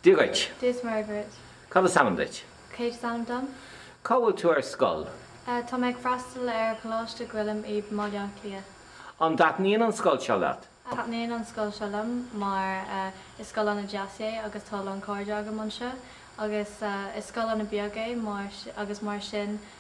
Dia dhuit. Dia is Muire dhuit. Cad is ainm duit? Kate is ainm dom. Cá bhfuil tú ar scoil? Tá mé ag freastal ar Choláiste Choilm i mBaile Átha Cliath. An dtaitníonn an scoil seo leat? Taitníonn an scoil seo liom mar is scoil ana deas é agus tá a lán cairde agam anseo agus is scoil ana beag é agus mar sin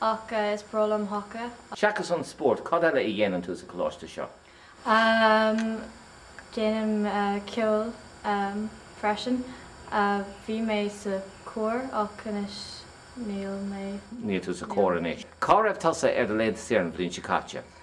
Ach is breá liom haca. Seachas an spórt, cad eile a dhéanann tú sa choláiste seo? Ahm, déanaim ceol freisin. Bhí mé sa chór ach anois níl mé. Níl tú sa chór anois. Cá raibh tusa ar do laethanta saor an bhliain seo caite?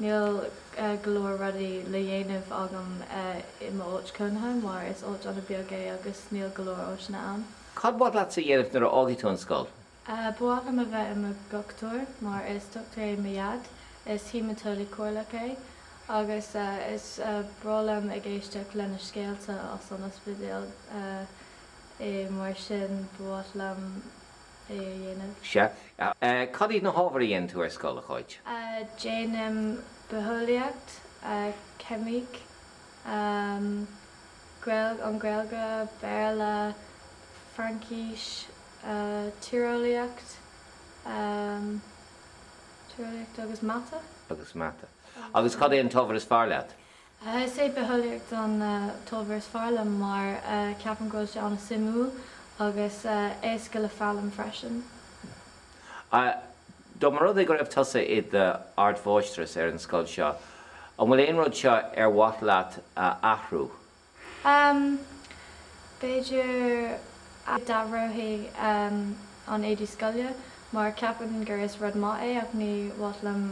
Níl go leor rudaí le dhéanamh agam i m'áit cónaithe mar is áit an-bheag é agus níl go leor áiteanna ann. Cad mhaith leat-sa a dhéanamh nuair a fhágfaidh tú an scoil? Ba mhaith liom a bheith i mo dhochtúir mar is dochtúir é mo dhaid, is haemaiteolaí comhairleach é agus is breá liom ag éisteacht lena scéalta as an ospidéal, agus mar sin ba mhaith liom. é a dhéanamh. Sea. Cad iad na hábhair a dhéanann tú ar scoil, a Cháit? Déanaim Bitheolaíocht, Ceimic, an Ghaeilge, Béarla, Fraincis, Tíreolaíocht agus Mata. Agus Mata. Agus cad é an t-ábhar is fearr leat? Is é Bitheolaíocht an t-ábhar is fearr liom mar ceapaim go bhfuil sé an-suimiúil agus éasca le foghlaim freisin. Dá mba rud é go raibh tusa i d'ardmháistreas ar an scoil seo, an bhfuil aon rud seo ar mhaith leat a athrú? B'fhéidir go n-athróinn an éadaí scoile mar ceapaim gur is rud maith é ach ní mhaith liom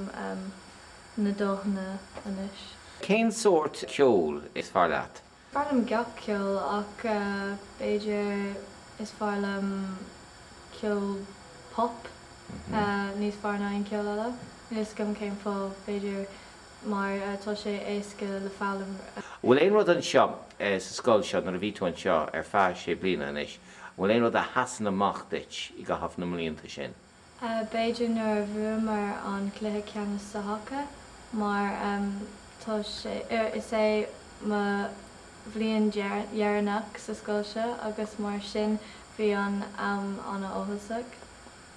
na dathanna anois. Cén sórt ceoil is fearr leat? Is fearr liom gach ceol ach b'fhéidir is fearr liom ceol pop níos fearr ná aon ceol eile. Níl a fhios agam cén fáth, b'fhéidir mar tá sé éasca le foghlaim. An bhfuil aon rud anseo sa scoil seo, nuair a bhí tú anseo ar feadh sé bliana anois, an bhfuil aon rud a sheasann amach duit i gcaitheamh na mblianta sin? b'fhéidir nuair a bhuamar an cluiche ceannais sa haca mar tá sé, is é mo bhliain dheireanach sa scoil seo agus mar sin bhí mé an-áthasach.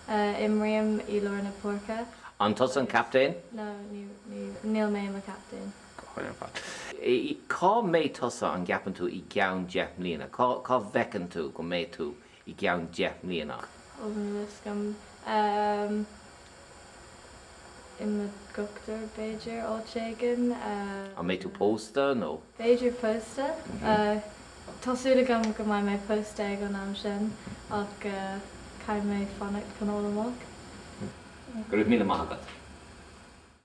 Imrím i lár na páirce. An tusa an captaen? No, níl mé i mo chaptaen. Cá mbeidh tusa, an gceapann tú, i gceann deich mbliana? Cá bhfeiceann tú go mbeidh tú i gceann deich mbliana. Ó, níl a fhios agam. I mo dhochtúir, b'fhéidir, áit éigin. An mbeidh tú pósta nó? B'fhéidir pósta. Tá súil agam go mbeidh mé pósta ag an am sin ach caithfidh mé fanacht chun a fháil amach. Go raibh míle maith agat.